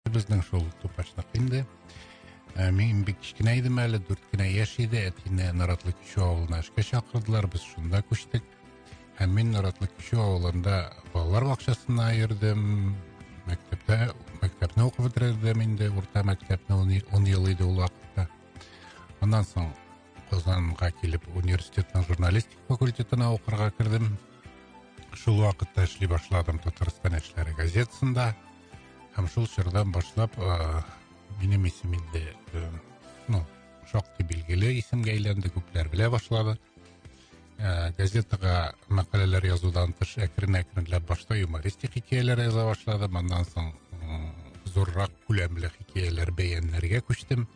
Безнең шул тупачнак инде. Ә, мин бик кечкенә идем әле, дүрт кенә яшь иде, әтине Наратлы Кичү авылына эшкә чакырдылар, без шунда күчтек. Һәм мин Наратлы Кичү авылында балалар бакчасына йөрдем, мәктәптә, мәктәпне укып бетердем инде, урта мәктәпне ун, ун ел иде ул вакытта. Аннан соң Казанга килеп университетның журналистик факультетына укырга кердем. Шул вакытта эшли башладым Татарстан эшләре газетасында. Һәм шул чордан башлап минем исем инде ну, шактый билгеле исемгә әйләнде, күпләр белә башлады. Ә, газетага мәкаләләр язудан тыш әкрен-әкренләп башта юмористик хикәяләр яза башлады, моннан соң зуррак күләмле хикәяләр бәяннәргә күчтем.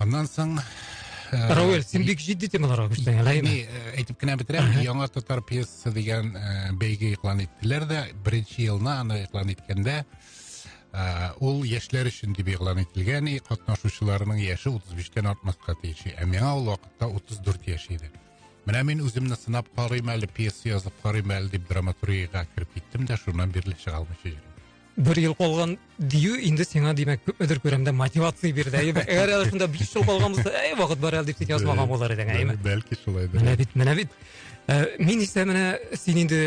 аннан соң э, рауэль сен бик җитди темаларга күчтең әле әйеме э, әйтеп кенә бетерәм яңа татар пьесасы дигән э, бәйге иклан иттеләр дә беренче елны аны иклан иткәндә ул яшьләр өчен дип игълан ителгән и катнашучыларның яше утыз биштән артмаска тиеш ә миңа ул вакытта утыз дүрт яшь иде менә мин үземне сынап карыйм әле пьеса язып карыйм әле дип драматургияга кереп киттем дә шуннан бирле чыга алмыйча йөрим Бер ел калган дию инде сиңа, димәк, күпмедер күләмдә мотивация бирде, әйеме? Әгәр әле шунда биш ел калган булса, әй, вакыт бар әле дип син язмаган булыр идең, әйеме? Бәлки шулай да. Менә бит, менә бит. Э, мин исә менә син инде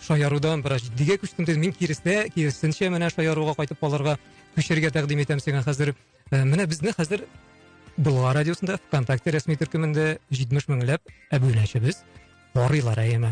шаярудан бераз җитдигә күчтем дидем. Мин киресенчә, киресенчә менә шаяруга кайтып калырга күчәргә тәкъдим итәм сиңа хәзер. Э, менә безне хәзер Болгар радиосында ВКонтакте рәсми төркемендә 70 меңләп әбүнәчебез карыйлар әйеме.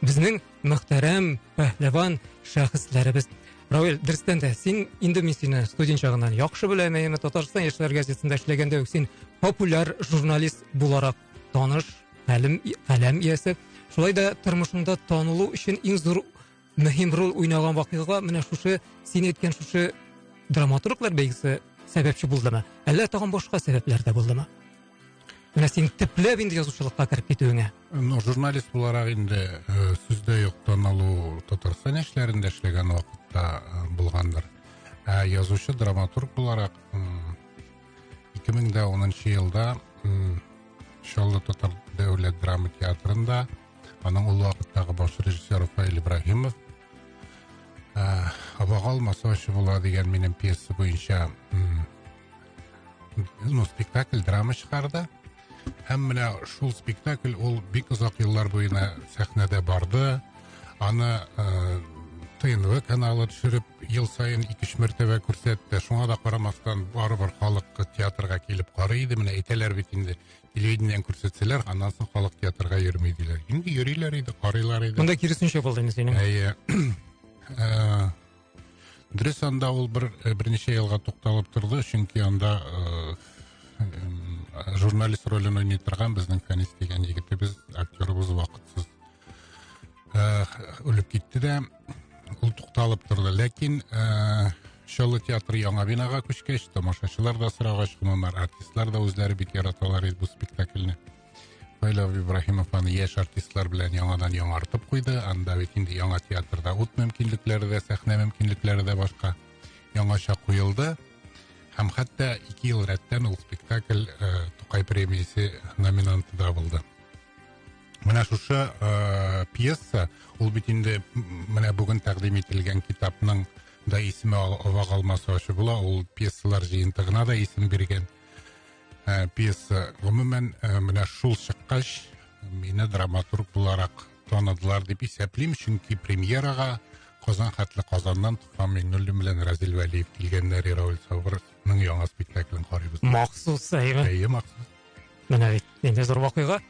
Безнең мөхтәрәм, пәһлеван шәхесләребез. Равил, дөрестән дә, син инде мин сине студент чагыннан яхшы беләм, әйеме, Татарстан яшьләр газетасында эшләгәндә үк син популяр журналист буларак таныш, хәлем, хәләм иясе. Шулай да тормышыңда танылу өчен иң зур мөһим роль уйнаган вакыйга менә шушы, син әйткән шушы драматурглар бәйгесе сәбәпче булдымы? Әллә тагын башка сәбәпләр дә булдымы? Менә син төпләп инде язучылыкка кереп китүеңә. Ну, журналист буларак инде э, сүздә юк таналу Татарстан яшьләрендә эшләгән вакытта э, булгандыр. Ә язучы драматург буларак 2010 елда Чаллы татар дәүләт драма театрында аның ул вакыттагы баш режиссер Рафаэль Ибраһимов э, Абагал Масовачы була дигән минем пьеса буенча ну, спектакль драма чыгарды һәм менә шул спектакль ул бик озак еллар буена сәхнәдә барды аны ә, э, тнв каналы төшереп ел саен ике өч мәртәбә күрсәтте шуңа да карамастан барыбер халык театрга килеп карый иде менә әйтәләр бит инде телевидениедән күрсәтсәләр аннан соң халык театрга йөрми диләр инде йөриләр иде карыйлар иде монда киресенчә булды инде синең әйе э, Дөрес анда ул бер э, берничә елга тукталып торды, чөнки анда э, журналист ролен уйный торган безнең Фәнис дигән егетебез, актерыбыз вакытсыз э, үлеп китте дә, ул тукталып торды. Ләкин Чаллы театры яңа бинага күчкәч, тамашачылар да сорагач, гомумән артистлар да үзләре бик яраталар иде бу спектакльне. Наилов Ибраһимов аны яшь артистлар белән яңадан яңартып куйды. Анда бит инде яңа театрда ут мөмкинлекләре дә, сәхнә мөмкинлекләре дә башка. Яңача куелды. Һәм хәтта ике ел рәттән ул спектакль э, Тукай премиясе номинанты да булды. Менә шушы э, пьеса, ул бит инде менә бүген тәкъдим ителгән китапның да исеме вак алмасы ачы була, ул пьесалар җыентыгына да исем биргән. ә, пьеса. Гомумән, ә, менә шул чыккач, мине драматург буларак таныдылар дип исәплим, чөнки премьерага Казан хәтле Казаннан Туфан Миңнуллин белән Разил Вәлиев килгәннәр Ирауль Сабырның яңа спектаклен карыйбыз. Махсус, әйме? Әйе, махсус. Менә бит, инде зур вакыйга.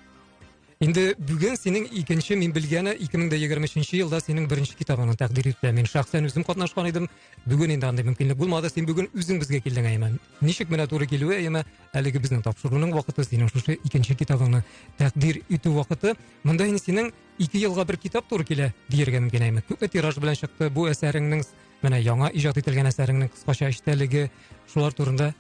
Инде бүген синең икенче мин белгәне 2023 елда синең беренче китабыңны тәкъдир итә. Мин шәхсән үзем катнашкан идем. Бүген инде андый мөмкинлек булмады. Син бүген үзең безгә килдең, Әймән. Ничек менә туры килүе, Әймә, әлеге безнең тапшыруның вакыты, синең шушы икенче китабыңны тәкъдир итү вакыты. Монда инде синең ике елга бер китап туры килә, диергә мөмкин, Әймә. Күпме тираж белән чыкты бу әсәреңнең, менә яңа иҗат ителгән әсәреңнең кыскача эчтәлеге, шулар турында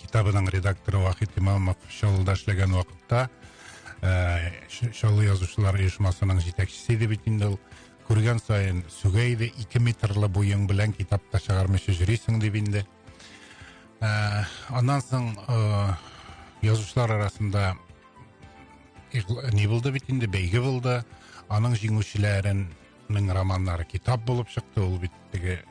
китабының редакторы вахит имамов чаллыда эшләгән вакытта ә, чаллы язучылар оешмасының җитәкчесе иде бит инде ул күргән саен сүгә иде ике метрлы буең белән китап та чыгармыйча йөрисең дип инде ә, аннан соң ә, язучылар арасында не булды бит инде бәйге булды аның җиңүчеләренең романнары китап булып чыкты ул бит теге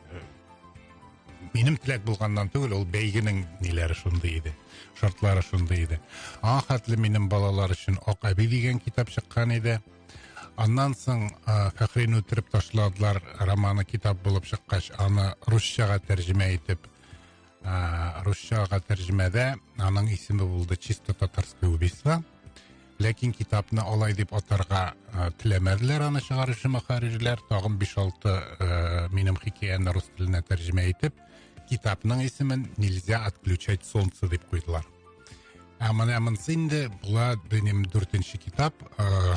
Минем теләк булганнан түгел, ул бәйгенең ниләре шундый иде, шартлары шундый иде. Аңа хәтле минем балалар өчен Ак әби дигән китап чыккан иде. Аннан соң Фәхрине үтереп ташладылар романы китап булып чыккач, аны русчага тәрҗемә итеп, русчага тәрҗемәдә аның исеме булды Чисто татарское убийство. ләкин китапны алай дип атарга э, теләмәделәр аны чыгаручы мөхәррирләр тагын биш алты э, минем хикәяне рус теленә тәрҗемә итеп китапның исемен нельзя отключать солнце дип куйдылар ә менә монысы инде була динем дүртенче китап э,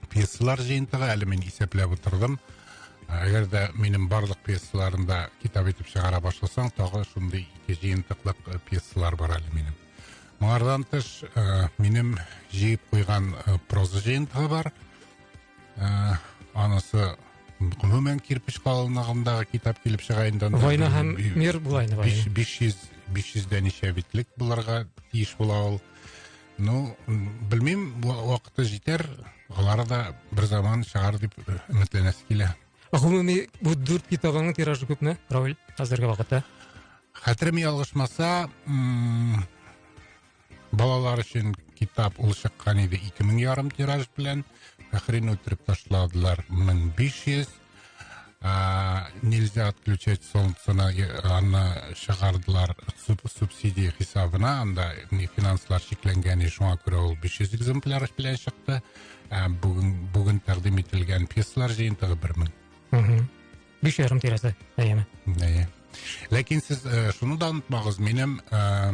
пьесалар жиынтыгы әле мин исәпләп утырдым әгәр дә минем барлык пьесаларымда китап итеп чыгара башласаң тагы шундый ике жыентыклык э, пьесалар бар әле минем моңардан тыш э, минем җыеп куйган э, проза жыентыгы бар анысы гомумән кирпич калынлыгындагы китап килеп чыга инде война һәм мир булайны биш йөз биш йөздә ничә битлек булырга тиеш була ул Ну, белмим, вакыты җитәр, алары да бер заман чыгар дип өметләнәсе килә. Гомуми бу дүрт китабыңның тиражы күпме, Равил, хәзерге вакытта? Хәтерем ялгышмаса, балалар өчен китап ул чыккан иде 2000 ярым тираж белән. Фәхрин үтереп ташладылар 1500. А, нельзя отключать солнце на аны чыгардылар субсидия хисабына, анда финанслар чикләнгән, шуңа күрә ул 500 экземпляр белән чыкты. Ә бүген бүген тәкъдим ителгән пьесалар җыентыгы 1000. Угу. Биш ярым тирәсе, әйеме? Әйе. Ләкин сез э, шуны да онытмагыз, минем э,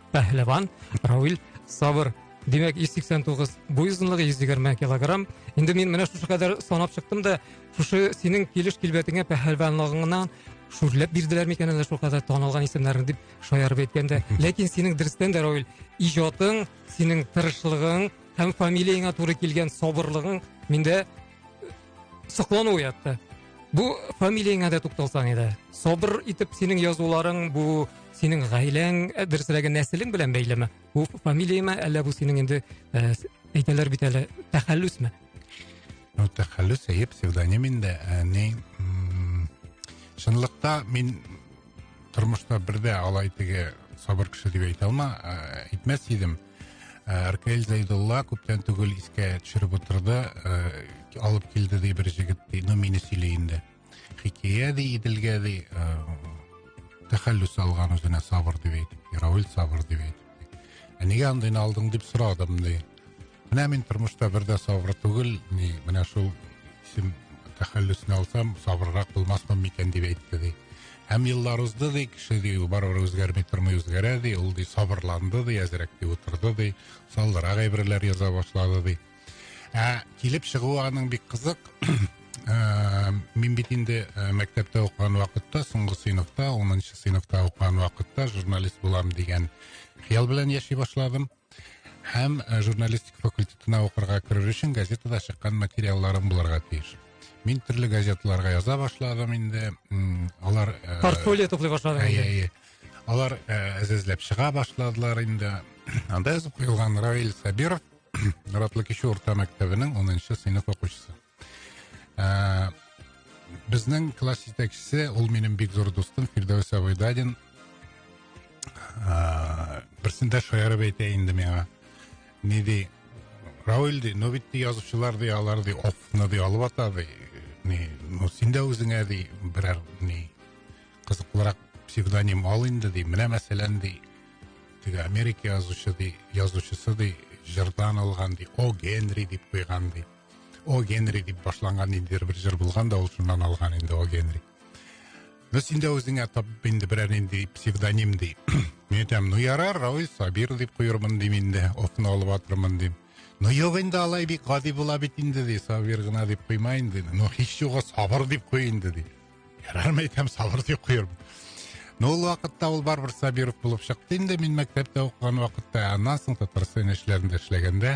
пәһлеван равил сабыр Димәк, 189 буй озынлыгы, 120 килограмм. Инде мин менә шушы кадәр санап чыктым да, шушы синең килеш килбәтеңә пәһәлванлыгыңнан шүрләп бирделәр микән әллә шул кадәр танылган исемнәрне дип шаярып әйткәндә. Ләкин синең дөрестән дә Равил, иҗатың, синең тырышлыгың һәм фамилияңа туры килгән сабырлыгың миндә соклану уятты бу фамилияңә дә тукталсаң иде сабыр итеп синең язуларың бу синең гаиләң ә, дөресрәге нәселең белән бәйлеме бу фамилияме әллә бу синең инде ә, әйтәләр бит әле тәхәллүсме ну тәхәллүс әйе псевдоним инде ә, ни м, чынлыкта мин тормышта бер дә алай теге сабыр кеше дип әйтә алма әйтмәс идем ркл зәйдулла күптән түгел искә төшереп утырды алып килде ди бер жігіт ди ну мені сөйле енді хикәя ди иделгә ди тәхәллүс алган үзенә сабыр дип әйтеп равил сабыр дип әйтеп ә нигә андыйны алдың дип сорадым ди менә мин тормышта бер дә сабыр түгел ни менә шул исем тәхәллүсне алсам сабыррак булмаспын микән дип әйтте ди һәм еллар узды ди кеше ди ул барыбер үзгәрми тормый үзгәрә ди ул ди сабырланды ди әзрәк ди утырды ди саллырак әйберләр яза башлады ди ә килеп чыгуы аның бик кызык ә, мин бит инде ә, мәктәптә укыган вакытта соңгы сыйныфта онынчы сыйныфта укыган вакытта журналист булам дигән хыял белән яши башладым һәм ә, журналистика факультетына укырга керер өчен газетада чыккан материалларым булырга тиеш мин төрле газеталарга яза башладым инде алар ә, портфолио туплый башладың әйе әйе алар ә, әзәзләп чыга башладылар инде анда язып куелган равил сабиров Ратлы кеше урта мәктәбенең 10-нчы сыйныф укучысы. Ә, безнең класс җитәкчесе, ул минем бик зур дустым Фирдәүс Абайдадин. Ә, берсендә шаярып әйтә инде миңа. Ни ди? Рауль ди, ну бит ди язучылар ди, алар ди, офны ди алып ата ди. Ни, ну син дә үзеңә ди, берәр ни кызыклырак псевдоним ал инде ди. Менә мәсәлән ди, теге америка язучы ди язучысы ди җырдан алган ди о генри дип куйган ди о генри дип башланган ниндидер бер җыр булган да ул шуннан алган инде о генри ну син дә үзеңә тап инде берәр нинди псевдоним ди мин әйтәм ну ярар равил сабир дип куермын дим инде офны алып атырмын дим ну юк инде алай бик гади була бит инде ди сабир гына дип куйма инде ну һич югы сабыр дип куй инде ди Ярарым әйтәм, сабыр дип куербыз. Но ул вакытта ул барыбер Сабиров булып чыкты инде, мин мәктәптә укыган вакытта, аннан соң Татарстан эшләрендә эшләгәндә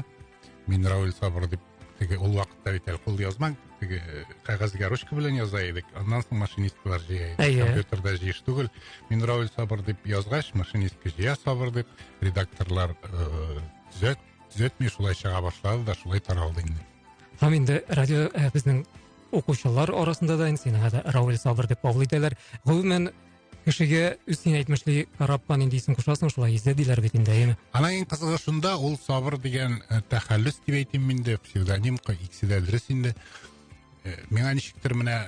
мин Рауль Сабыр дип теге ул вакытта бит әле кул язма теге э, кәгазьгә ручка белән яза идек аннан соң машинистлар җыя иде әйе компьютерда җыеш түгел мин рауль сабыр дип язгач машинистка җыя сабыр дип редакторлар э, төзәт төзәтми шулай чыга башлады да шулай таралды инде һәм инде радио э, безнең укучылар арасында да енді сені қазір рауил сабыр деп кабул итәләр гомумән кешегә үз син әйтмешли караппа нинди исем кушасың шулай иза диләр бит инде әйеме ана ең кызыгы шунда ул сабыр дигән э, тәхәллүс дип әйтим мин дә псевдоним икесе дә дөрес инде э, миңа ничектер менә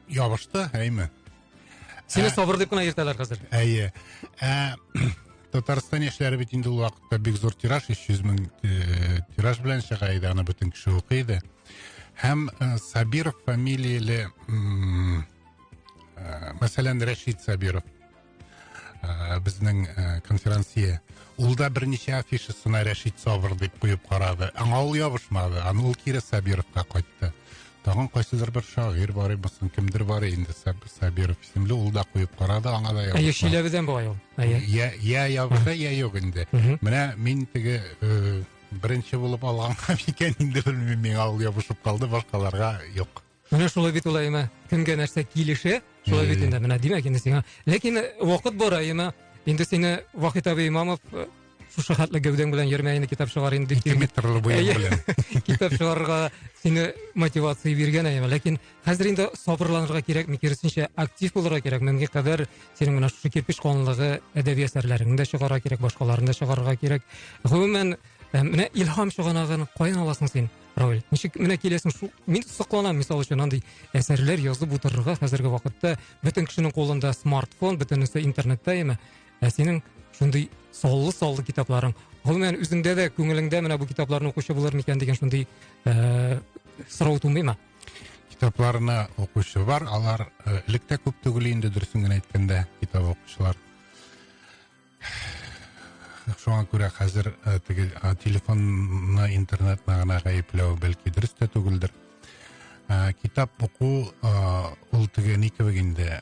ябышты әйме сине ә, сабыр дип кына йөртәләр хәзер әйе ә, татарстан яшьләре бит инде ул вакытта бик зур тираж өч йөз мең э, тираж белән чыга иде аны бөтен кеше укый иде Һәм э, Сабиров фамилияле, э, мәсәлән, Рәшид Сабиров, э, безнең э, конферансия, ул да берничә афишасына Рәшид Сабыр дип куеп карады. Аңа ул ябышмады, аны ул кире Сабировка кайтты. Тагын кайсыдыр бер шагыйрь бар булсын, кемдер бар инде Сабиров исемле, ул да куеп карады, аңа да ябышмады. Әйе, Шиләбедән була ул. Әйе. Я я ябыша, я юк инде. Менә мин теге э, Беренче булып алганга микән инде белмим миңа ул ябышып калды башкаларга юк. Менә шулай бит ул Әйме. Кемгә нәрсә килешә, шулай бит инде. Менә димәк инде сиңа. Ләкин э, вакыт бар Әйме. Инде сине Вахит абый Имамов э, шушы хәтле гәүдәң белән йөрмә инде китап чыгар инде. Ике метрлы буен белән. Китап чыгарырга сине мотивация биргән Әйме. Ләкин Хәзер инде сабырланырга кирәкме, киресенчә, актив булырга кирәк. Мөмкин кадәр синең менә шушы кирпеч калынлыгы әдәби әсәрләреңне дә чыгарырга кирәк, башкаларны да чыгарырга кирәк. Гомумән, э, менә илһам чыганагын каян аласың син, Равил? Ничек менә киләсең? Шу... Мин сокланам, мисал өчен, андый әсәрләр язып утырырга хәзерге вакытта. Бөтен кешенең кулында смартфон, бөтенесе интернетта яме. Ә синең шундый саллы-саллы китапларың. Гомумән, үзеңдә дә күңелеңдә менә бу китапларны укучы булыр микән дигән шундый э, сорау тумыймы? китапларына укучы бар алар э, элек тә күп түгел инде дөресен генә әйткәндә китап укучылар шуңа күрә хәзер э, теге э, телефонны интернетны гына гаепләү бәлки дөрес тә түгелдер китап уку ул теге ни кебек инде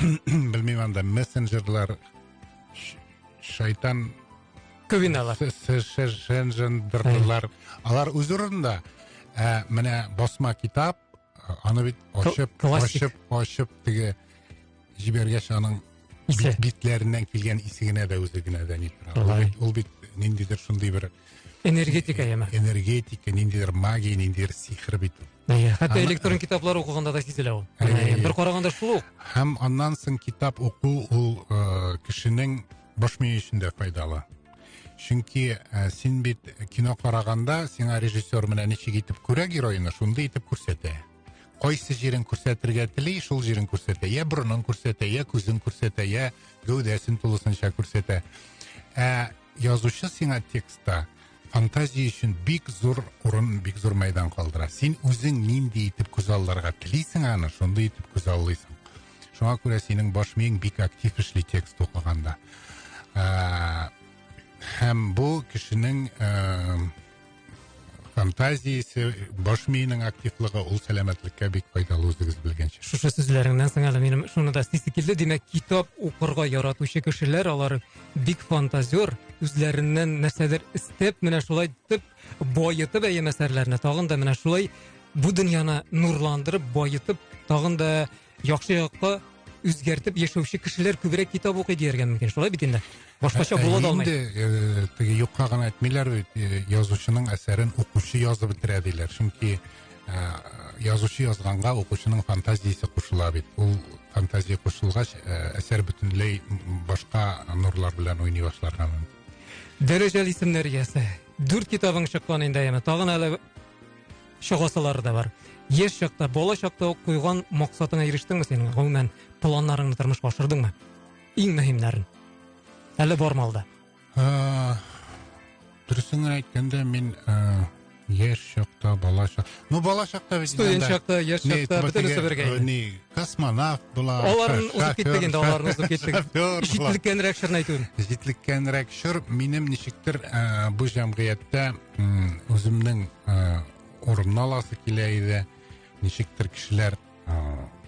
білмеймін анда мессенджерлар шайтан көбиналар сенжендрлар алар өз орнында ә, менә басма китап аны бит ашып ашып ашып теге жібергеш аның битләреннән килгән исе генә дә үзе генә дә ни тора ул бит ниндидер шундый бер Энергетика яме. Энергетика, ниндидер магия, ниндидер сихер бит ул. Иә, хәтта электрон китаплар укыганда да сизелә ул. Бер караганда шул ук. Һәм аннан соң китап уку ул э, кешенең баш мие өчен дә файдалы. Чөнки э, син бит кино караганда сиңа режиссер менә ничек итеп күрә героины, шундый итеп күрсәтә. Кайсы җирен күрсәтергә тели, шул җирен күрсәтә. Я борынын күрсәтә, я күзен күрсәтә, я гәүдәсен тулысынча күрсәтә. Ә Язучы сиңа текстта фантазия өчен бик зур урын, бик зур мәйдан калдыра. Син үзең нинди итеп күз алларга телисең аны, шундый итеп күз аллыйсың. Шуңа күрә синең баш миең бик актив эшли текст укыганда. Ә, һәм бу кешенең ә, фантазиясе, баш миенең активлыгы ул сәламәтлеккә бик файдалы үзегез белгәнчә. Шушы сүзләреңнән соң әле минем шуны да истисе килде. Димәк, китап укырга яратучы кешеләр, алар бик фантазер, үзләреннән нәрсәдер эстәп, менә шулай итеп баетып әйе әсәрләрне, тагын да менә шулай бу дөньяны нурландырып, баетып, тагын да яхшы якка үзгәртеп яшәүче кешеләр күбрәк китап укый дияргә мөмкин шулай бит инде башкача ә, була да алмый инде теге юкка гына әйтмиләр бит язучының әсәрен укучы язып бетерә диләр чөнки язучы язганга укучының фантазиясе кушыла бит ул фантазия кушылгач әсәр бөтенләй башка нурлар белән уйный башларга мөмкин дәрәҗәле исемнәр иясе дүрт китабың чыккан инде әйеме тагын әле Чыгасылары да бар. Еш чакта, бала чакта ук куйган максатыңа ирештеңме син? Гомумән, планнарыңны тормышка ашырдыңмы? Иң мөһимнәрен. Әле бармы алда? Э, дөресен әйткәндә, мин э, яшь чакта, бала чакта. Ну, бала чакта бит. Студент чакта, яшь чакта бөтенесе бергә. Э, ни, космонавт була. Аларны узып киттек инде, аларны узып киттек. Җитлеккәнрәк чорны әйтүен. Җитлеккәнрәк чор минем ничектер э, бу җәмгыятьтә үземнең ә, урынны аласы килә иде. Ничектер кешеләр ә,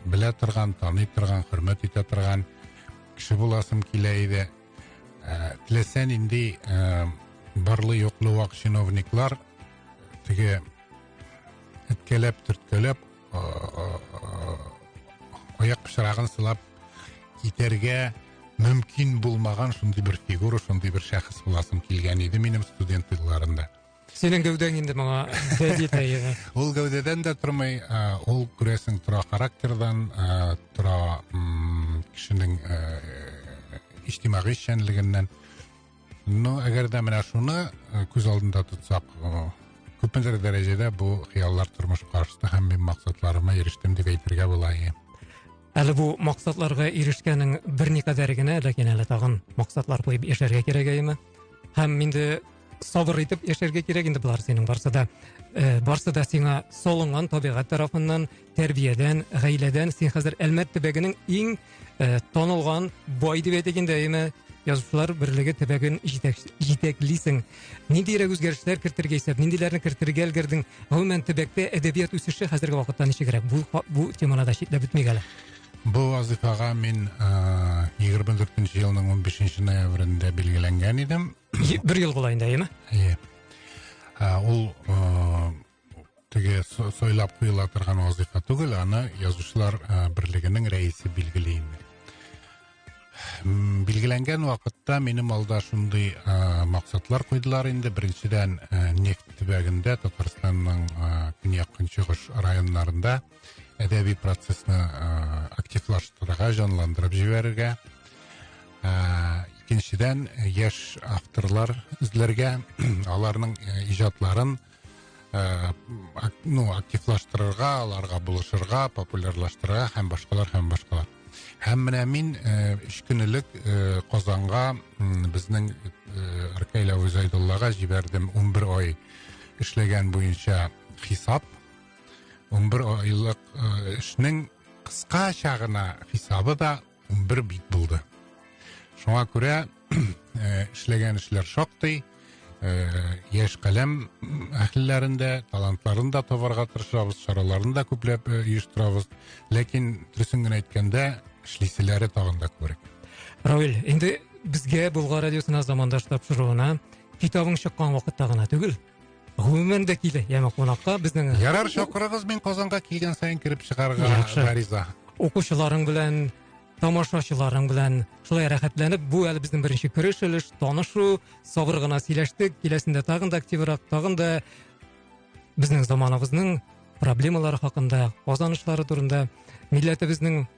белә торган, таный торган, хөрмәт итә торган кеше буласым килә иде. Ә, теләсә нинди ә, барлы юклы вак чиновниклар теге әткәләп, төрткәләп, аяк пычрагын сылап китәргә мөмкин булмаган шундый бер фигура, шундый бер шәхес буласым килгән иде минем студент елларында. Синең гәүдәң инде моңа Ул гәүдәдән дә тормый, ә, ул күрәсең тора характердан, ә, тора м кешенең ә, иҗтимагый эшчәнлегеннән. Ну, әгәр дә менә шуны э, күз алдында тотсак, э, күпмедер дәрәҗәдә бу хыяллар тормышка ашты һәм мин максатларыма ирештем дип әйтергә була. Әле бу максатларга ирешкәнең берникадәр генә, ләкин әле тагын максатлар куеп яшәргә кирәк әйеме? Һәм инде сабыр итеп яшәргә кирәк инде болар синең барсы да э, барсы да сиңа салынган табигать тарафыннан тәрбиядән гаиләдән син хәзер әлмәт төбәгенең иң э, танылган бай дип әйтик инде әйме язучылар берлеге төбәген җитәклисең ниндирәк үзгәрешләр кертергә исәп ниндиләрне кертергә өлгердең гомумән төбәктә әдәбият үсеше хәзерге вакытта ничегрәк бу бу теманы да читләп үтмик әле Бу вазифага мин егерме дүртенче елның унбишенче ноябрендә билгеләнгән идем. бер ел була инде әйеме әйе ул теге сойлап куела торган вазыйфа түгел аны язучылар берлегенең рәисе билгели инде билгеләнгән вакытта минем алда шундый максатлар куйдылар инде беренчедән нефть төбәгендә татарстанның көньяк көнчыгыш районнарында әдәби процессны ә, активлаштырырга, җанландырып җибәрергә. Ә, икенчедән, яшь авторлар эзләргә, аларның ә, иҗатларын ә, ну, активлаштырырга, аларга булышырга, популярлаштырырга һәм башкалар һәм башкалар. Һәм менә мин ә, өч көн элек ә, Казанга безнең Аркаилә Үзайдуллага җибәрдем 11 ай эшләгән буенча хисап 11 айлык э, эшнең кыскача гына хисабы да 11 бит булды. Шуңа күрә э, эшләгән эшләр шактый, э, яшь каләм әһелләрен дә, талантларын да табарга тырышабыз, чараларын да күпләп оештырабыз. Ләкин дөресен генә әйткәндә, эшлиселәре тагын да күбрәк. Равил, инде безгә Болгар радиосына замандаш тапшыруына китабың чыккан вакытта гына түгел, гомумән дә килә яме кунакка безнең ярар чакырыгыз мин казанга килгән саен кереп чыгарга гариза укучыларың белән тамашачыларың белән шулай рәхәтләнеп бу әле безнең беренче кереш өлеш танышу сабыр гына сөйләштек киләсендә тагын да активрак тагын да безнең заманыбызның проблемалары хакында казанышлары турында милләтебезнең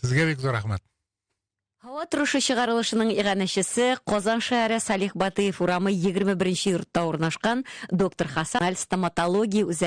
Сезгә бик зур рәхмәт. Һава торышы чыгарылышының иганәчесе, Казан шәһәре Салих Батыев урамы 21 нче йортта урнашкан Доктор Хасаналь стоматология үзәге.